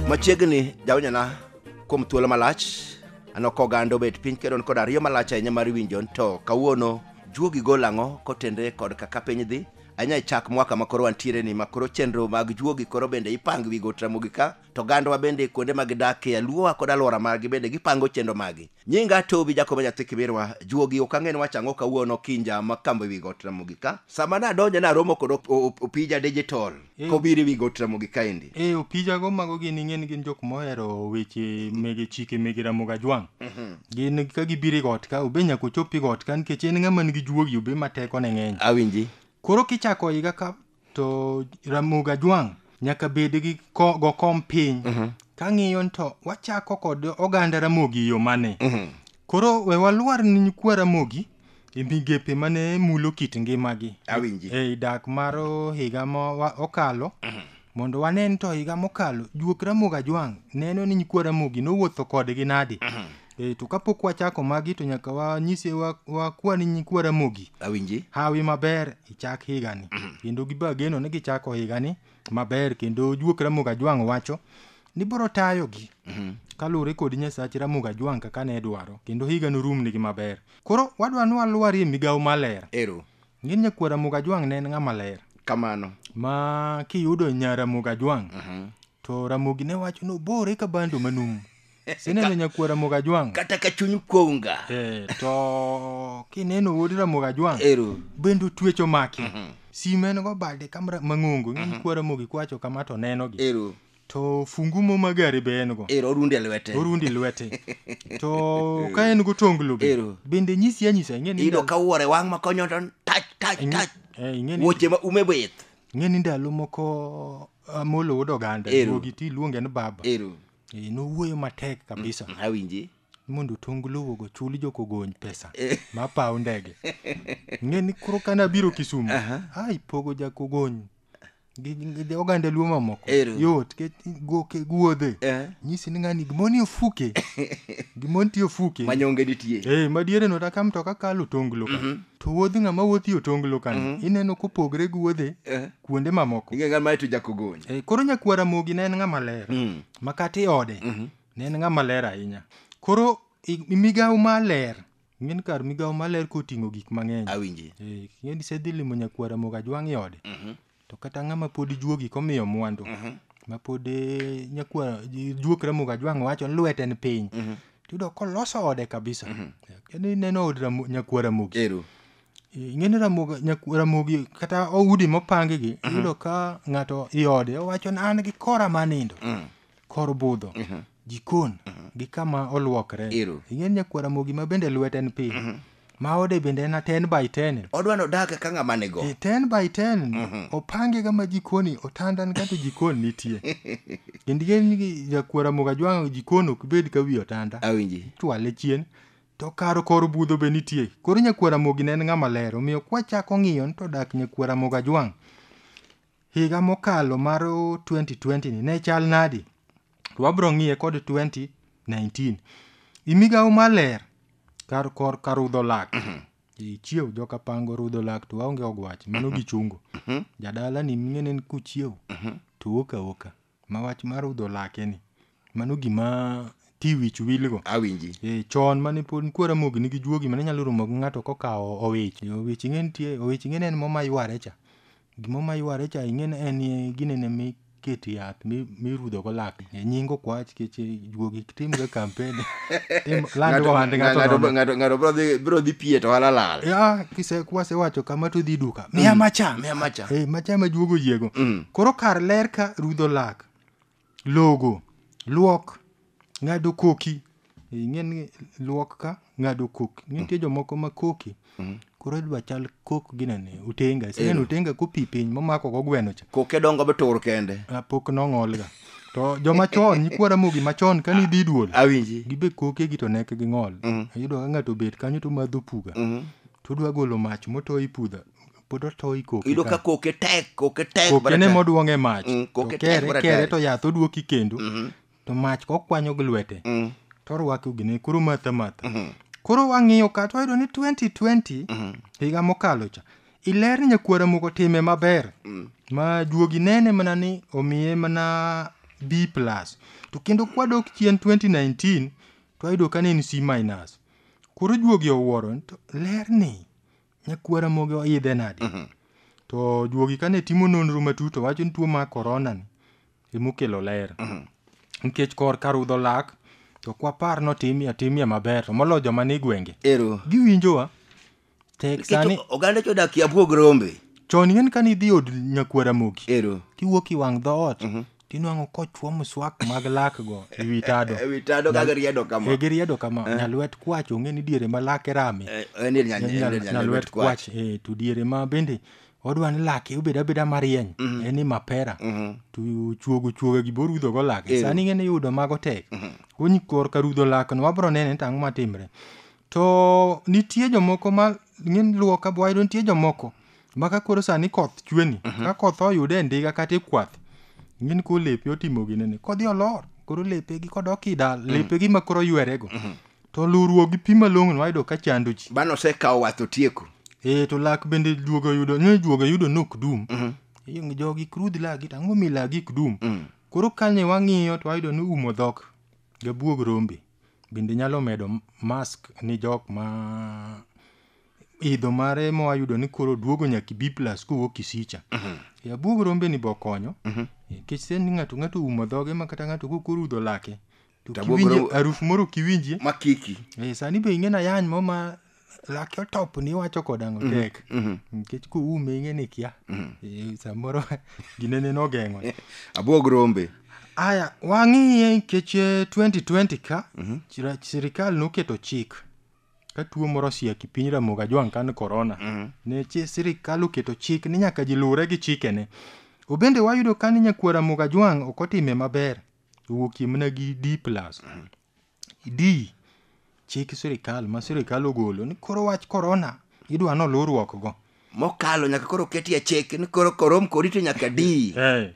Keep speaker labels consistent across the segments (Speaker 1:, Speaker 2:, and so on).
Speaker 1: machiegni jawnyana kuom thuolo malach ano ka oganda obet piny kendo kod ariyo malach ahinya mar winjo to kawuono juogi gol ang'o kotenre kod kaka piny dhi anya chak mwaka makoro wantiere ni makoro chenro mag juogi koro bende ipang wi got ramogi ka to gandwa bende kuonde ma gidakie aluowa kod alwora margi bende gipango chenro magi nyinga tobi jakobo nyathi kibirwa juogi ok ang'e ni wacho ang'o kawuono kinja ma kambo ewi got ramogi ka sama nadonjo naromo kod op- op- opija digital Eh. kobiro ewi got ramogi kaendi e opijago mago
Speaker 2: gin ing'e ni gin jok mohero weche mege chike mege ramogi ajwang' gin ka gibiro i got ka obe nyaka ochop i got ka nikech en ng'ama nigi juogi obe ma tekone ng'eny awinji koro
Speaker 1: kichako
Speaker 2: higa ka to Ramogi Ajwang' nyaka bed gi ko, go kom piny mm-hmm. kang'iyo to wachako kod oganda Ramogi yo mane mm-hmm. koro we walwar ni nyikwa Ramogi e migepe mane mulo kit ngimagi awinji e dak
Speaker 1: mar
Speaker 2: higa ma okalo mm-hmm. mondo wanen to higa mokalo juok Ramogi Ajwang' neno ni nyikwa Ramogi nowuotho kodgi nadi mm-hmm. Eh, to kapok wachako magi to nyaka wanyise wa- wakwani nyikwa Ramogi awinji hawi
Speaker 1: maber
Speaker 2: ichak higani kendo giba geno ni gichako higani maber kendo juok Ramogi Ajwang' wacho ni biro tayogi kaluwore kod nyasach Ramogi Ajwang' kaka ne dwaro kendo higa norumnigi maber koro wadwa ni walwarie migawo maler ero ngin nyakwar Ramogi Ajwang' ne en ng'ama ler kamano ma kiyudo nya Ramogi Ajwang' to Ramogi ne wacho ni obore ka bando manumu sineno nyakwar ramogi ajwang' kata ka chuny kuonga
Speaker 1: Eh, to
Speaker 2: kineno wuod ramogi ajwang' ero bende otwecho maki sim en go bade kamra mang'ongo ng'eny kwa ramogi kwacho kama to nenogi ero to fungu mo ma gari be en go ero orundi e lwete orundi lwete to ka en go tonglo be Ero. bende nyisi anyisa ing'e ni iyudo ndalo- ka wuore wang' ma
Speaker 1: konyo to tach tach ing'e- tach eh, ing'e ni- wuoche ma ume bith ing'e ni ndalo
Speaker 2: moko amolo wuod oganda Ero. duogi ti iluonge ni baba ero Eh, nowuoyo matek kabisa Mm, awinji
Speaker 1: mondo tong
Speaker 2: luwo go chul jokogony pesa ma paw ndege ng'e ni koro kane abiro kisumu a ipogo jakogony gi- gi gi oganda luo mamoko Ero. yot ke- goke guodhe Eh. nyisi ni ng'ani gimoni ofuke gimoni ti ofuke manyonge nitie Eh,
Speaker 1: madiere no taka mtoka
Speaker 2: kalo tonglo ka to wuodh ng'ama wuothi otonglo ka ineno kopogre gi wuodhe Eh. kuonde mamoko ing'e ng'ama to jakogonyi
Speaker 1: e, koro nyakwa ramogi
Speaker 2: ne en ng'ama ler mm. makati ode mm -hmm. ne en ng'ama ler ahinya koro migawo maler ng'en kar migawo maler koting'o gik mang'eny awinji e, ng'eni
Speaker 1: sedhi
Speaker 2: limo nyakwa ramogi ajwang'i ode mm -hmm. to kata ng'ama pod juogi komiyo mwandu mm -hmm. mapod e, nyakwa juok ramogi ajwang' wacho lwete ni piny mm -hmm. tiyudo koloso ode kabisa mm -hmm. neno od nyakwara mogi Eh, ing'e ni ramogi nyak- ramogi kata oudi mopangi gi iyudo ka ng'ato iode owacho ni an gi kora ma nindo Mm. kor budho Mhm. jikon gi kama olwokre Ero. ing'e ni nyakwar ramogi ma bende lwete en piny ma ode bende en a 10 by 10 odwa ni odag ka
Speaker 1: ng'ama nigo E 10 by 10
Speaker 2: opange ga ma jikoni otandan ka to jikon nitie kendo ing'e ni nyakwar ramogi ajwang'o jikon ok bed ka wi otanda awinji chwale
Speaker 1: chien
Speaker 2: To kar kor budho be nitie. Koro Nyakuo Ramogi ne en ng'ama ler, omiyo kwachako ng'iyo ni to dak Nyakuo Ramogi Ajwang' higa mokalo mar 2020 ni ne chal nadi? To wabro ng'iye kod 2019. I migawo mar ler kar kor ka rudho lak. Ichiew joka pango rudho lak to waonge ogwach mano gichungo. Jadala ni ming'e ne en kuchiew to oka oka. Ma wach mar rudho lake ni. Mano gima ti wich wil go. Awinji. Eh, chon
Speaker 1: mane pod nikuo
Speaker 2: Ramogi nigi juogi mane nyalo romo gi ng'ato kokawo owich. Owich ing'e nitie, owich ing'e ne en mo mayware cha. Gimo mayware cha ing'e ne en ginene mikete yath mi- mirudho go lak. Eh, Nying ok wach kech juogi tim ga kampen tim land Ng'ato- ohand ng'ato ng'ato- nono.
Speaker 1: ng'ato- ng'ato bro dhi- bro dhi pie to wala lal ya kise kwase wacho
Speaker 2: kama to dhi duka miya macha miya macha. eh macha ma juogo yiego Mm. koro kar ler ka rudho lak logo luok ng'ado koki ing'e ni luok ka ng'ado koki nitie jomoko ma koki Mhm. koro idwa chal kok ginene utenga iseneno utenga kopi piny momako go gweno cha koke dongo be tur
Speaker 1: kende Ah, pok nong'olga
Speaker 2: to joma chon nyikwa ramogi machon kane idhi duol awinji gibe koke
Speaker 1: gi to nek
Speaker 2: gi ng'ol Mhm. iyudo ka ng'ato obet kanyo to madho puga Mhm. to odwa golo mach motoyi pudha pod otoyi koke iyudo ka koke tek
Speaker 1: koke tek kokene
Speaker 2: moduong' e mach Mm, to koke tek kere bara kere
Speaker 1: tari. to yath
Speaker 2: oduoki kendo Mhm. to mach kokwanyo gi lwete Mm. to orwake ogine koro matha matha Mhm. koro wang'iyo ka to wayudo ni 2020 Mhm. higa mokalo cha iler ni nyakwara moko time maber Mm. ma juogi nene mana ni omiye mana b plus to kendo kwadok chien 2019 to wayudo ka ne en c minus koro juogi owuoro ni to ler ni nyakuo Ramogi oidhe nadi to juogi kane timo nonro matut to wacho ni tuo mar korona ni emokelo ler nikech kor ka rudho lak to kwapar notimie atimie maber to moloyo joma ni gwenge ero giwinjowa tek sani nikech oganda jodak e abwog
Speaker 1: rombe chon ing'eni kane idhi
Speaker 2: od nyakuo Ramogi ero tiwuok i
Speaker 1: wang' dhoot
Speaker 2: tinwang'o kochwo mswak mag lakgo e wi tado E wi tado ka giriedo
Speaker 1: kama. e giriedo kama nyalwet
Speaker 2: kwach ong'e ni diere ma lake rame Eh, en dier nyal- en dier nyal- nyal- nyalwet kwach e to diere ma bende odwa ni lake obed abeda marieny en ni mapera to chuogo chuoga gi borudhogo lake sani ng'e ni yudo mago tek Kony korka rudho lakno wabro nene to ang'o matimre To nitie jomoko ma ng'eny luwo ka wayudo nitie jomoko ma ka koro sani koth chwe ni ka koth oyude e ndiga kata e kwath ng'eny ko lepe otimo ginene kodhi olor koro lepe gi kodok i dal lepe gi ma koro ywere go to luwruok gi pi malong'o wayudo ka chando ji Bano osekawo wath
Speaker 1: otieko. eh to lak bende
Speaker 2: juogo yudo ni juogo yudo nok dum Yung- jogi krudh lagi to ang'o mi lagi ok dum koro kane wang'iyo to wayudo ni umo dhok gabuog rombe Bende inyalo medo mask ni jok ma idho mare mwayudo ni koro duogo nyaka ibi plus kowuok kisicha e abuog rombe ni bokonyo nikech sen ni ng'ato ng'ato oumo dhoge ma kata ng'ato kok orudho lake to To abuog kiwinje rombe- harufu moro kiwinjie ma kiki Eh,
Speaker 1: sani be ing'e na
Speaker 2: yany mo ma lake otop ni iwacho kod ang'o mhm, tek mhm. nikech kuume ing'e ni kia mhm. eh, samoro ginene nogeng'o abwog rombe
Speaker 1: aya
Speaker 2: wang'iye nikech 2020 eh, ka sirikal noketo chik ka tuo moro osiaki piny ramoga jwang' kan korona ne sirikal oketo chik ni nyaka ji luwre gi chikene obende wayudo ka ni nyakwara mugajwang' ok otime maber owuokie mana gi d plus idii chik sirkal ma sirkal ogolo ni koro wach korona idwa ni oluw rwokgo. Mokalo nyaka koro
Speaker 1: ketie chik ni koro korom kori to nyaka dii. Hey.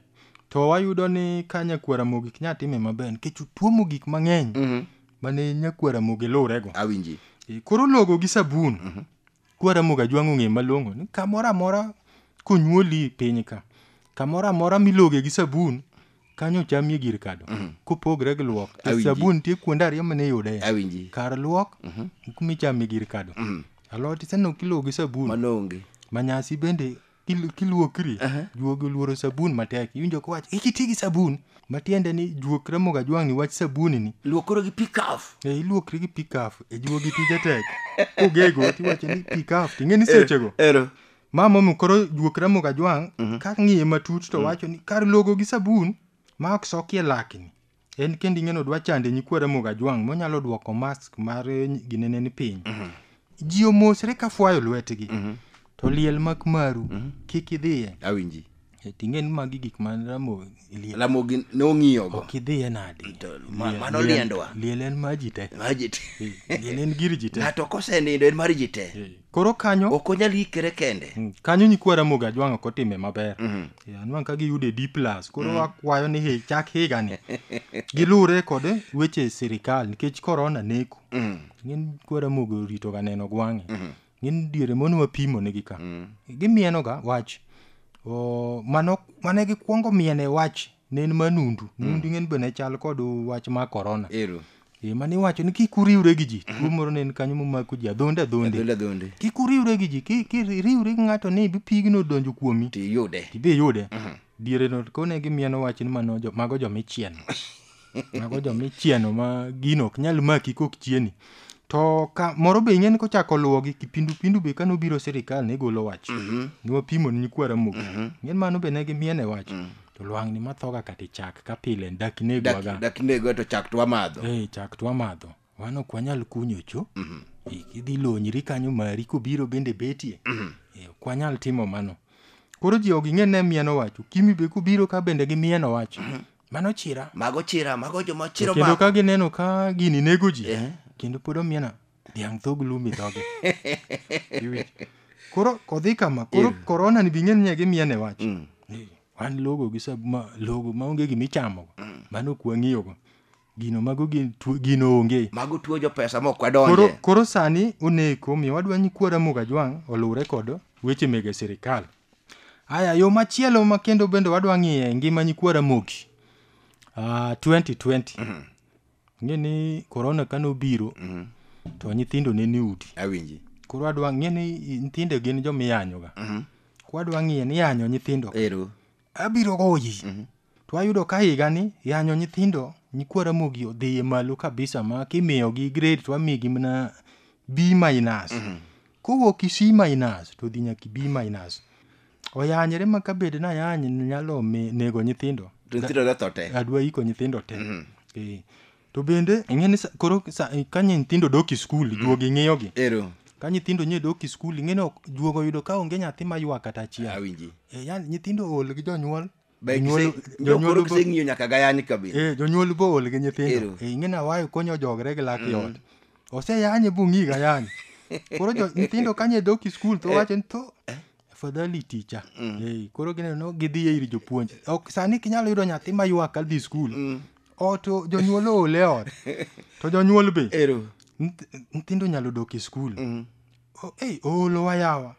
Speaker 1: To
Speaker 2: wayudo ni ka nyakwara mogik nya time maber nikech tuo mogik mang'eny mm -hmm. mane nyakwara mogi luwrego. Awinji. E, koro
Speaker 1: logo gi
Speaker 2: sabun. Mm -hmm. Kwa Ramogi Ajwang' ong'e malong'o ni kamoro amora konyuoli e piny ka, kamoro amora miloge gi sabun, kanyo ochamie gir kado. Kopogre gi luok, nikech Awinji. sabun nitie kuonde ariyo mane iyude. Awinji. Kar luok, gi kuma ichamie gir kado. Alot iseneno kilogo gi sabun. Mano onge. Manyasi
Speaker 1: bende
Speaker 2: Kil- kiluokri Aha. juogi oluoro sabun matek iwinjo kowach ikiti gi sabun matiende ni juok ramoga jwang'ni wach sabuni ni luokoro gi pikaf
Speaker 1: e iluokri gi pikaf
Speaker 2: e juogi tije tek kogego tiwacho ni pikaf ting'e ni sechego ero ma
Speaker 1: momi koro
Speaker 2: juok ramoga jwang' ka ng'iye matut to wacho ni kar logo gi sabun ma ok sokie lakni en kendo ing'eno dwa chande nyikwa Ramogi Ajwang' monyalo dwoko mask mar ginene ni piny ji omosre ka fwayo lwetgi to liel mak maru kik idhiye awinji
Speaker 1: ting'e ni magi
Speaker 2: gik ma Ramogi liel lamogi
Speaker 1: ne ong'iyogo ok idhiye nadi
Speaker 2: To ma- Liel- mano liel-
Speaker 1: liendwa. liel en ma ji te
Speaker 2: Maji te.
Speaker 1: liel en gir ji
Speaker 2: te ng'ato kosenindo en mar
Speaker 1: ji te koro kanyo ok
Speaker 2: onyal ikere kende
Speaker 1: mm, kanyo nyikwa ramoga
Speaker 2: jwang' ok otime maber mm -hmm. anwang' ka giyude d plus koro mm -hmm. akwayo ni hey, chak higani gilure kod weche sirikal nikech korona neko mm -hmm. ng'eny kwa ramoga oritoga neno gwang'e mm -hmm. ng'eny diere mono wapimo negi ka mm -hmm. gimienoga wach mane gikwongo miene wach ne en manundu nundu ing'eni be ne chal kod wach mar korona ero e mane
Speaker 1: iwacho ni
Speaker 2: kik uriwre gi ji tuo moro ne en kanyo momako ji adhonde adhonde adhonde adhonde kik uriwre gi ji ki- kiriwri gi ng'ato ni pigno odonjo kuomi to iyude tibe iyude diere no kone gi mieno wach ni mano jo- mago jomichieno mago jomichieno ma gino ok nyal maki kok chieni to ka moro be ing'eni kochako luwogi kipindupindu be kane obiro sirikal ne golo wach niwapimo ni nyikwa ramogi ing'eni mano be ne gimiene wach to lwang'ni mathoga kata chak ka pile dak negwa ga dak negwa to chak to
Speaker 1: wamadho eh chak to wamadho
Speaker 2: wan ok wanyal kunyo cho mm -hmm. idhi lonyri kanyo mari kobiro bende betie mm -hmm. eh, ok wanyal timo mano koro ji ok ing'e ne mieno wacho kimi be kubiro ka bende gi mieno wacho mm -hmm. mano chira mago chira mago
Speaker 1: joma chiro kendo ka gineno ka
Speaker 2: gini nego ji eh. kendo pod omiena dhiang' thog lum i dhoge Iwinjo? koro kodhi kama koro korona ni bing'e ni gimiya ne wach Ni, wan logo gi sab ma logo ma onge gima ichamogo mano ok wang'iyogo gino mago gin tuo- gino onge mago tuo jo pesa ma ok koro,
Speaker 1: wadonje koro sani
Speaker 2: oneko omiyo wadwa ni kwara mugajwang' oluwre kod weche mege sirikal aya yo machielo ma kendo bende wadwa ng'iye ngima nyikwara mogi uh, 2020 ng'e ni korona ka nobiro Mhm. to nyithindo ne ni udi awinji koro adwa
Speaker 1: ng'e ni
Speaker 2: i- nyithindo gin joma iyanyoga Mhm. koro adwa ng'iye ni yanyo nyithindo ero abiro
Speaker 1: goyi
Speaker 2: Mhm. to ayudo ka higani yanyo nyithindo nyikwa ramogi odhiye malo kabisa ma kimiyogi grade to amigi mana b minus kowuok i c minus to dhi nyaka i b minus oyanyre ma ka bed nayany nyalo mi- nego nyithindo To nyithindo dotho te.
Speaker 1: adwa iko nyithindo te
Speaker 2: Eh, to bende ing'e ni sa- koro sa- ka nyithindo dok e skul juogi ng'iyogi Ero. ka nyithindo
Speaker 1: nye dok
Speaker 2: e skul ing'e ni ok- juogo yudo ka onge nyathi maywa kata achiel Awinji. Eh, yani
Speaker 1: nyithindo ool
Speaker 2: gi jonyuol Be Jonyuol- gise- jonyuol
Speaker 1: jokoro bo- giseng'iyo nyaka gayani kabisa Eh, jonyuol bool gi
Speaker 2: nyithindo Ero. Eh, ing'e na wayo konyo jogre gi lak yot oseyanye bung'i gayani koro jo- nyithindo kanye doki skul to wacho ni to afadhali ticha Eh, koro gineno no gidhi e ir jopuonj ok sani kinyalo yudo nyathi ma ywak kadhi skul oto jonyuol ool e ot to jonyuol be ero Nyith- nyithindo nyalo dok e skul O- ei oolowa yawa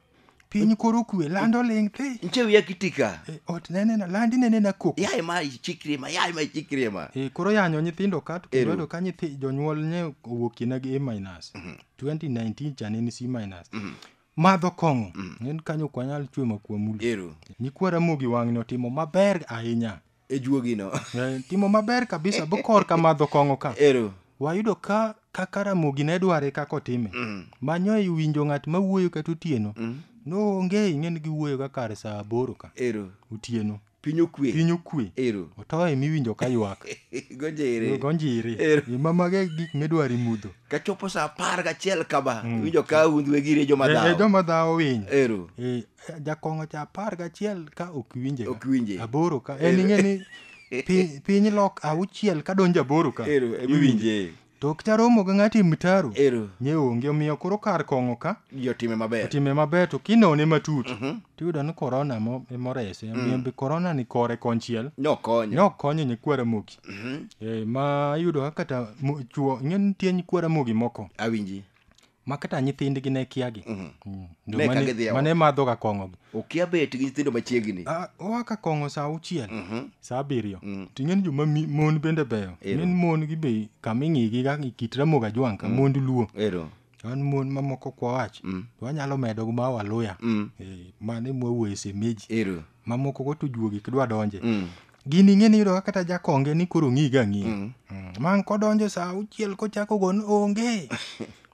Speaker 2: piny koro kwe lando ling thi nche wiya kitika
Speaker 1: e, ot nenena landi
Speaker 2: nenena kok yaye ma ichikri ma
Speaker 1: yaye ma ichikri ma e, koro yanyo nyithindo
Speaker 2: ka to kendo ka nyithi jonyuol ne owuok kina gi a minus 2019 mhm. chane ni c minus mhm. madho kong'o mhm. en kanyo kwanyal chwe makuwa mulo nyikwara mogi wang'ni otimo maber ahinya e juogino Eh,
Speaker 1: timo maber
Speaker 2: kabisa bokor ka madho kong'o ka ero wayudo ka kaka ramogi ne dware kaka otime Mm. manyo e winjo ng'at ma wuoyo kata otieno Mm. noonge ing'eni giwuoyo ka kar saa aboro ka ero otieno piny okwe piny
Speaker 1: okwe ero otoye miwinjo
Speaker 2: ka ywak gojere gonjiri Ero. imamage gik midwaro imudho kachopo sa apar
Speaker 1: gachiel kama winjo ka hundhwe gire joma E- e dhawo joma dhawo
Speaker 2: winy ero Eh, Jakong'o cha apar gachiel ka ok winje. Ok winje. Aboro ka. En ing'e ni pi- piny lok auchiel ka donjo aboro ka. Ero, ema iwinje.
Speaker 1: To ok cha romo
Speaker 2: gi ng'ati mtaro. Ero, Nye onge omiyo koro kar kong'o ka ji otime maber. otime
Speaker 1: maber to
Speaker 2: kinone matut tiyudo ni korona emo- emorese omiyo be korona ni kore konchiel Nokonyo. ne ok konyo nyikwara ramogi Eh, ma iyudo ka kata mo- chuo ing'e ni nitie nyikwara ramogi moko Awinji.
Speaker 1: ma kata
Speaker 2: nyithindgi ne kiagi mm. mm. Ne ka gidhi e mane madhoga kong'ogi okia bet gi nyithindo
Speaker 1: machiegni ah, oa ka kong'o
Speaker 2: sa auchiel mhm. sa abiriyo mm. to ing'eni joma mon bende beyo min mon gi be kama ing'igi ga kit ramogi ajwang' ka mond luo an mon mamoko kwawach to wanyalo medo gi ma waluya eh, mane mwawuoye semeji mamoko go to juogi kidwa donje Mm. gini ing'e ni yudo ka kata jakonge ni koro ng'i ga ng'i Mm. Mm, man kodonjo sa auchiel kochako gon onge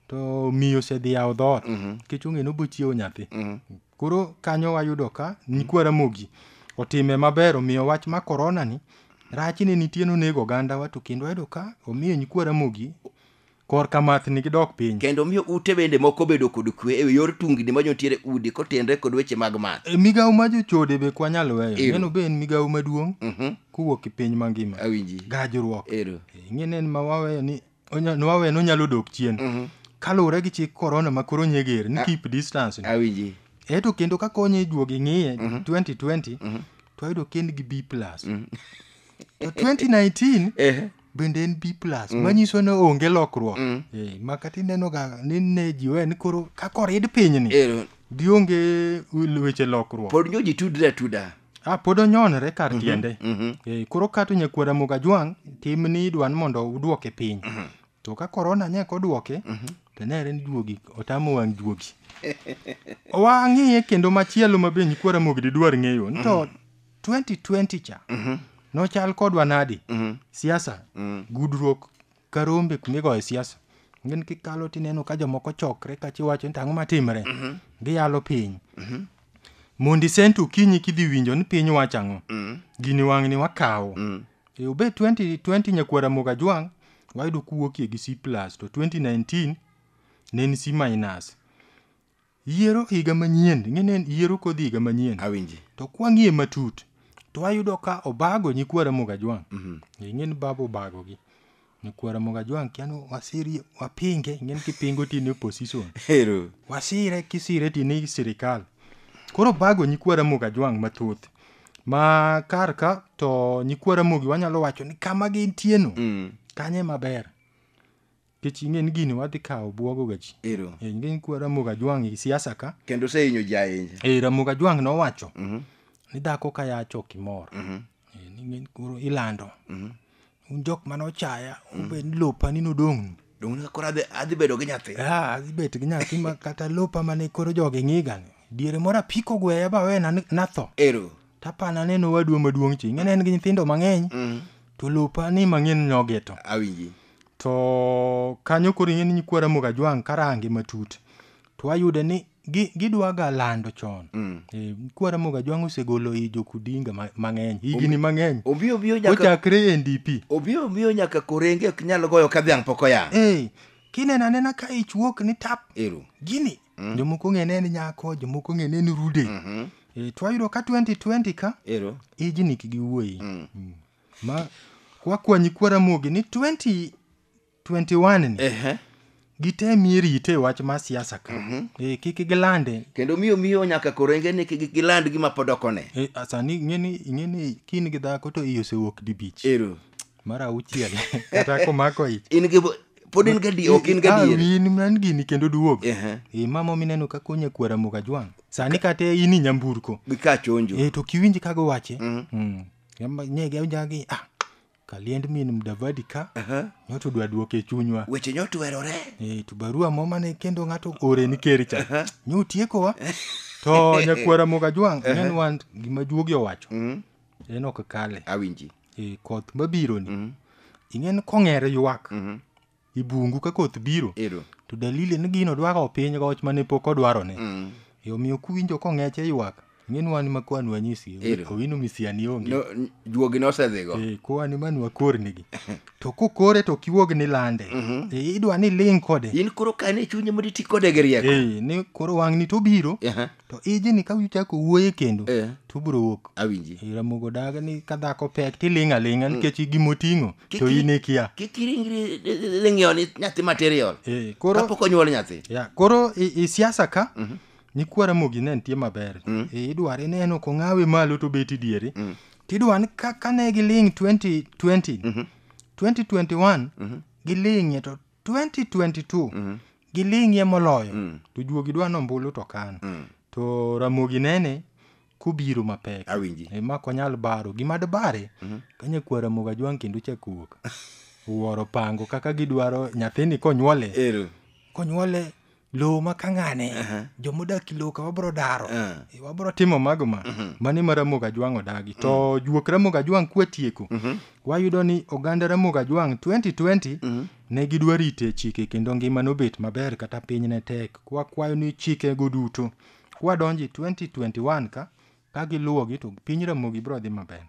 Speaker 2: to miyo osedhi yawo dhoot Mhm. nikech ong'e ni obochiewo nyathi Mhm. koro kanyo wayudo ka nyikwa ramogi otime maber omiyo wach ma korona ni rachne nitie nonego ogandawa to kendo wayudo ka omiyo nyikwa ramogi korka mathni gidok piny. Kendo miyo ute bende
Speaker 1: moko bedo kod kwe e yor tungni ma jontiere udi kotenre kod weche mag math. E, migawo ma jochode
Speaker 2: be kwa nyalo weyo. Ero. Neno be en migawo maduong' Mhm. kowuok e piny mangima. Awinji. Gajruok.
Speaker 1: Ero.
Speaker 2: E, Ing'e nen ma waweyo ni onya- ni waweyo ni onyalo dok chien. Mhm. Kaluwore gi chik korona ma koro nyeger ni A- keep distance. Awinji. Eto
Speaker 1: kendo ka
Speaker 2: konye juogi ng'iye 2020 to ayudo ken gi B+. To 2019 Eh. bende en B plus mm. manyiso ni onge lokruok mm. eh, ma kata inenoga ni ne jiwe ni koro kaka orid pinyni eh, gionge weche lokruok pod nyo ji tudre atuda
Speaker 1: Ah, pod onyonre
Speaker 2: kar mm -hmm, tiende mm -hmm. eh, koro kato nyakwara moga jwang' tim ni idwa ni mondo udwoke piny mm -hmm. to ka korona nyek odwoke mm -hmm. to nere ni juogi otamo wang' juogi wang'iye kendo machielo ma be nyikwara mogdi dwar ng'eyo ni to mm -hmm. 2020 cha nochal kodwa nadi siasa gudruok ka rombe kumigoye siasa ngin kikalo tineno ka jomoko chokre kachi wacho ni to ang'o matimre giyalo piny mondi sent okinyi kidhi winjo ni piny wacho ang'o gini wang'ni wakawo E, obed 2020 nyakwara moga jwang' wayudo kuwuokie gi c plus to 2019 ne en c minus Yiero higa manyien, ing'e ni en yiero kodhi higa manyien. Awinji. To kwang'iye
Speaker 1: matut,
Speaker 2: to ayudo ka obago nyikwa Ramogi Ajwang'. Ing'e ni baba obagogi. Nyikwa Ramogi Ajwang' kia ni wasiri, wapinge, ing'e ni kipingo to in e opposition. Hero. Wasire kisire to in e sirikal. Koro obago nyikwa Ramogi Ajwang' mathoth. Ma kar ka to nyikwa Ramogi wanyalo wacho ni kama gintieno, kanyo ema ber. Nikech ing'e ni gini wadhi kawo buogo ga ji. Ero. Eh, Ing'e ni kwa Ramogi Ajwang' e siasa ka. Kendo osehinyo ji ahinya.
Speaker 1: Eh, Ramogi Ajwang' nowacho
Speaker 2: ni dhako ka yach ok imor. Eh, ni ng'e ni koro ilando. Un jok mane ochaya, obed ni lopa ni nodong'nu. Donge ne koro adhi-
Speaker 1: adhi bedo gi nyathi. Ah, adhi bet gi nyathi
Speaker 2: ma kata lopa mane koro jogi ng'iga ni. Diere moro apiko gweya ba wena ni- natho. Ero. Tapana
Speaker 1: neno
Speaker 2: wadwa maduong' chi. Ing'e ni en gi nyithindo mang'eny. To lopa ni mang'eny nyogeto. Awinji. to kanyo koro ing'e ni nyikwa Ramogi Ajwang' karange matut to wayude ni gi- gidwaga lando chon Eh, nyikwa Ramogi Ajwang' osegolo i jokudinga ma- mang'eny higni mang'eny Obi obi nyaka kochakre
Speaker 1: e NDP
Speaker 2: obi obi nyaka
Speaker 1: korenge ok nyal goyo ka dhiang' pok oyang. Eh, kineno anena
Speaker 2: ka ich wuok ni tap Ero. gini jomoko ng'ene ni nyako jomoko ng'ene ni rude Eh, to wayudo ka 2020 ka Ero. ijni
Speaker 1: kigi wuoyi
Speaker 2: Mm. Ma wakwanyi kwa Ramogi ni 2021 ni Ehe. gitemie rite e wach mar siasa ka. Eh, kik gilande. Kendo miyo miyo nyaka
Speaker 1: korenge ni kik giland gima pod ok one. Eh, a- sani ing'eni
Speaker 2: ing'eni kin gi dhako to iye osewuok dibich. Ero. Mar
Speaker 1: auchiel
Speaker 2: kata komako ich. In gi pod in
Speaker 1: gadi ok in gadi. Ah, in man gini kendo
Speaker 2: duog. Ehe. Eh, mama mineno ka konye kwa Ramogi ajwang'. Sani kata in i nyamburko. Gika chonjo. Eh,
Speaker 1: to kiwinj kago wache.
Speaker 2: Mm. Yamba- nye ga jagi ah kaliend min mdavadi ka nyoto dwa duoke e chunywa weche nyo tuerore
Speaker 1: Eh, to barua mo
Speaker 2: mane kendo ng'ato ore ni ker cha nyo utiekowa to nyakwara moga jwang' nen wan gima juogi owacho en ok kale awinji Eh,
Speaker 1: koth
Speaker 2: mabironi ing'en kong'ere ywak e bungu ka koth biro Ero. to dalili
Speaker 1: ni gino
Speaker 2: dwa kawo piny goch mane pok odwarone Mm. e omiyo kuwinjo kong'eche ywak ing'e ni wan ma kwanu wanyisi Ero. owino misiani onge No, n- juogi nosedhigo.
Speaker 1: Eh, kwani manu
Speaker 2: wakornigi to kokore to kiwuog ni lande Eh, idwa ni ling kode In koro kane chunye
Speaker 1: mondo iti kode gi rieko. Eh, ni koro wang'ni
Speaker 2: to obiro Aha. to iji ni ka uchako wuoye kendo Eh. to ubiro wuok awinji E, ramogo
Speaker 1: daga ni
Speaker 2: ka dhako pek tiling' aling'a nikech gimoting'o to Kiki- in ikia kik iringri
Speaker 1: ling'io ni nyathi material Eh, koro kapok onyuol
Speaker 2: nyathi
Speaker 1: ya koro i, i
Speaker 2: siasa ka nyikwa ramogi ne nitie maber e, idware neno kong'awe malo to beti diere tidwa ni ka, ka ne giling' 2020 2021 giling'e to 2022 mm. giling'ie moloyo mm. to juogi dwa nombulu to kan mm. to ramogi nene kubiro mapek awinji e, ma konyal
Speaker 1: baro
Speaker 2: gima dbare mm -hmm. kanya kwa ramoga jwang kendo chako wuok wuoro pango kaka gidwaro nyathini konyuole
Speaker 1: konyuole
Speaker 2: lowo ma kang'ane Aha. jomodak i lowo ka wabro daro Ah. E, wabro timo mago ma mani ma ramoga jwang' odagi to juok ramoga jwang' kwatieko wayudo ni oganda ramoga jwang' 2020 ne gidwa rite chike kendo ngima nobet maber kata piny ne tek kwakwayo ni chikego duto kwadonjo e 2021 ka Ka giluwogi to piny Ramogi biro dhi maber.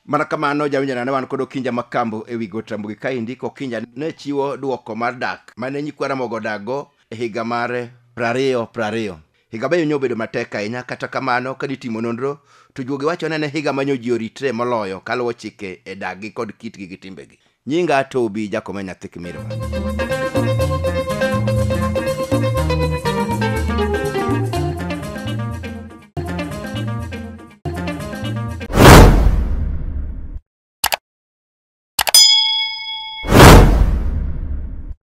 Speaker 2: Mana
Speaker 1: kamano jawinjo nane wan kod Okinja Makambo e wi got Ramogi kaendi ka Okinja ne chiwo duoko mar dak mane nyikwa Ramogi odakgo e higa mar prariyo prariyo. Higa be nyo obedo matek ahinya kata kamano ka nitimo nonro to juogi wacho ni en e higa manyo ji oritre moloyo kaluwo chike e dakgi kod kitgi gi timbegi. Nyinga Tobi Jakome nyathi Kimirwa.